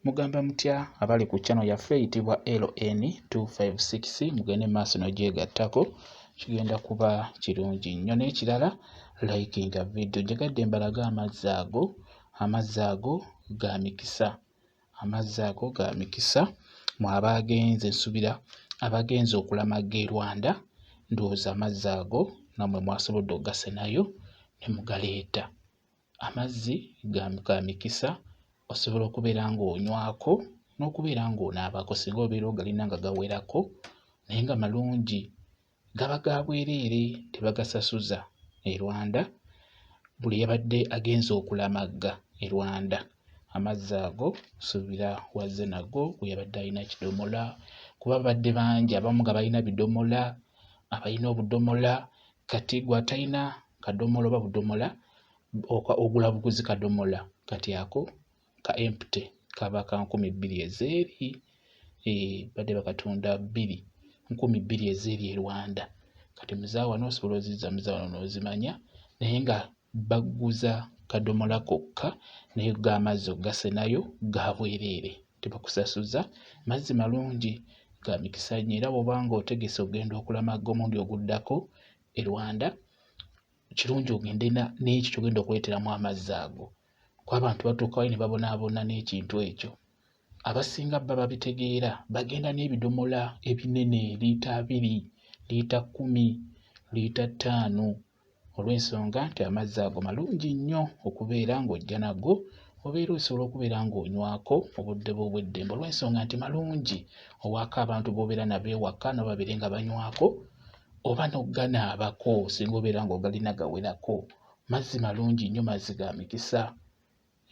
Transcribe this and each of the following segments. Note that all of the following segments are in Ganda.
Mugamba mutya abali ku channel yaffe eyitibwa LN256 mugende maaso nogyegattako kigenda kuba kirungi nnyo n'ekirala likinga video njagadde mbalaga amazzi ago amazzi ago ga mikisa amazzi ago ga mikisa mu abaagenze nsubira abagenze okulamaga e Rwanda ndowooza amazzi ago namwe mwasobodde ogasenayo ne mugaleeta. Amazzi ga mikisa osobola okubeera ng'onywako n'okubeera ng'onaabako singa obeera ogalina nga gawerako naye nga malungi gaba ga bwereere tebagasasuza e Rwanda buli yabadde agenze okulamagga e Rwanda amazzi ago nsuubira wazze nago gwe yabadde alina kidomola kuba babadde bangi abamu nga balina bidomola abalina obudomola kati gwe atalina kadomola oba budomola ogula buguzi kadomola kati ako ka empty kaba ka nkumi bbiri ezeeri eh, badde bakatunda bbiri nkumi bbiri ezeeri e rwanda kati muzaawa nosobola oziza muzaawa nozimanya naye nga bagguza kadomola kokka naye go amazzi okugasenayo ga bwereere tebakusasuza. Mazzi malungi ga mikisa nnyo era bw'oba ng'otegese okugenda okulamaga omulundi oguddako e Rwanda kirungi ogende n'ekyo ky'ogenda okuleeteramu amazzi ago kuba abantu batuukayo ne babonaabona n'ekintu ekyo. Abasinga baba babitegeera bagenda n'ebidomola ebinene liita abiri, liita kkumi, liita ttaano olw'ensonga nti amazzi ago malungi nnyo okubeera ng'ojja nago obeera osobola okubeera ng'onywako obudde bwo obw'eddembe olw'ensonga nti malungi owaako abantu b'obeera nabo ewaka nabo babeere nga banywako oba n'oganaabako singa obeera ng'ogalina gawerako mazzi malungi nnyo mazzi ga mikisa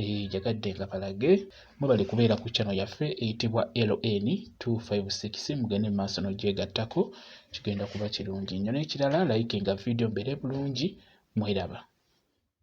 Eh, njagadde nga balage mwebale kubeera ku channel yaffe eyitibwa ln 256 mugende mu maaso n'ogyegattako kigenda kuba kirungi nnyo n'ekirala layike nga vidiyo mbeere bulungi mweraba